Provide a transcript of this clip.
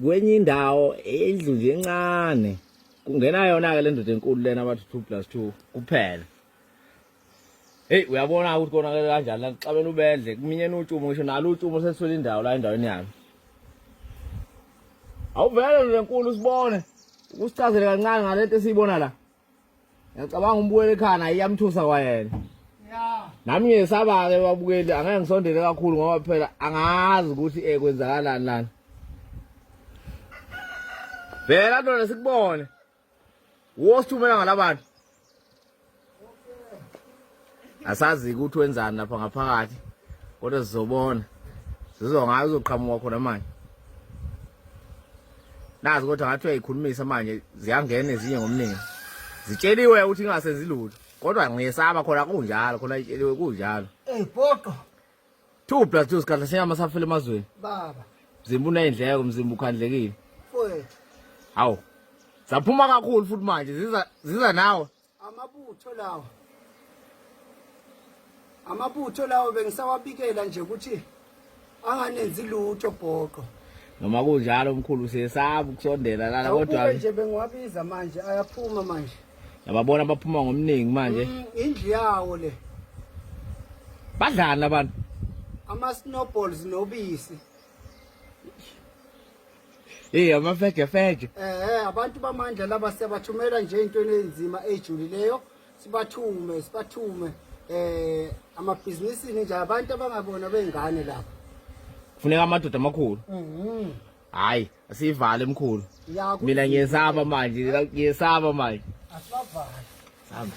kwenye indawo indlu nje encane kungena yona-ke le ndoda enkulu lena abathi two plus two kuphela heyi uyabona-ke ukuthi konakele kanjani la kuxabela ubedle kuminyena utshumo ngisho nalo utshumo sesithwele indawo la endaweni yami awuvele ndoda enkulu usibone ukusichazele kancane ngale nto esiyibona la Ngiyacabanga umbukeli ekhana iyamthusa kwayena. Yeah. Nami ngiyesaba-ke babukeli angeke ngisondele kakhulu ngoba phela angazi ukuthi eh kwenzakalani lana. Vela ndoda sikubone. Wosithumela ngalabantu. asazi ukuthi wenzani lapha ngaphakathi kodwa sizobona sizwa ngayo uzoqhamuka khona manje nazi kodwa ngathi uyayikhulumisa manje ziyangena ezinye ngomningi zitsheliwe ukuthi ingasenzi lutho kodwa ngiyesaba khona kunjalo khona itsheliwe kunjalo ey poqo 2 plus 2 sikhathi senyama safela emazweni baba mzimba uneyindleko mzimba ukhandlekile mfowethu hawu zaphuma kakhulu futhi manje ziza ziza nawe amabutho lawa amabutho lawo bengisawabikela nje ukuthi anganenzi lutho bhoqo noma kunjalo mkhulu siyesaba ukusondela lana kodwa nje bengiwabiza manje ayaphuma manje yababona baphuma ngomningi manje mm, indlu yawo le badlana abantu ama snowballs nobisi Hey amafeje feje. Eh abantu bamandla laba siyabathumela nje into enzima ejulileyo sibathume sibathume eh amabhizinisi nje abantu abangabona bengane lapha. Kufuneka amadoda amakhulu. Mhm. Hayi asivale emkhulu. Mina ngiyesaba manje ngiyesaba manje. Asivale. Samba.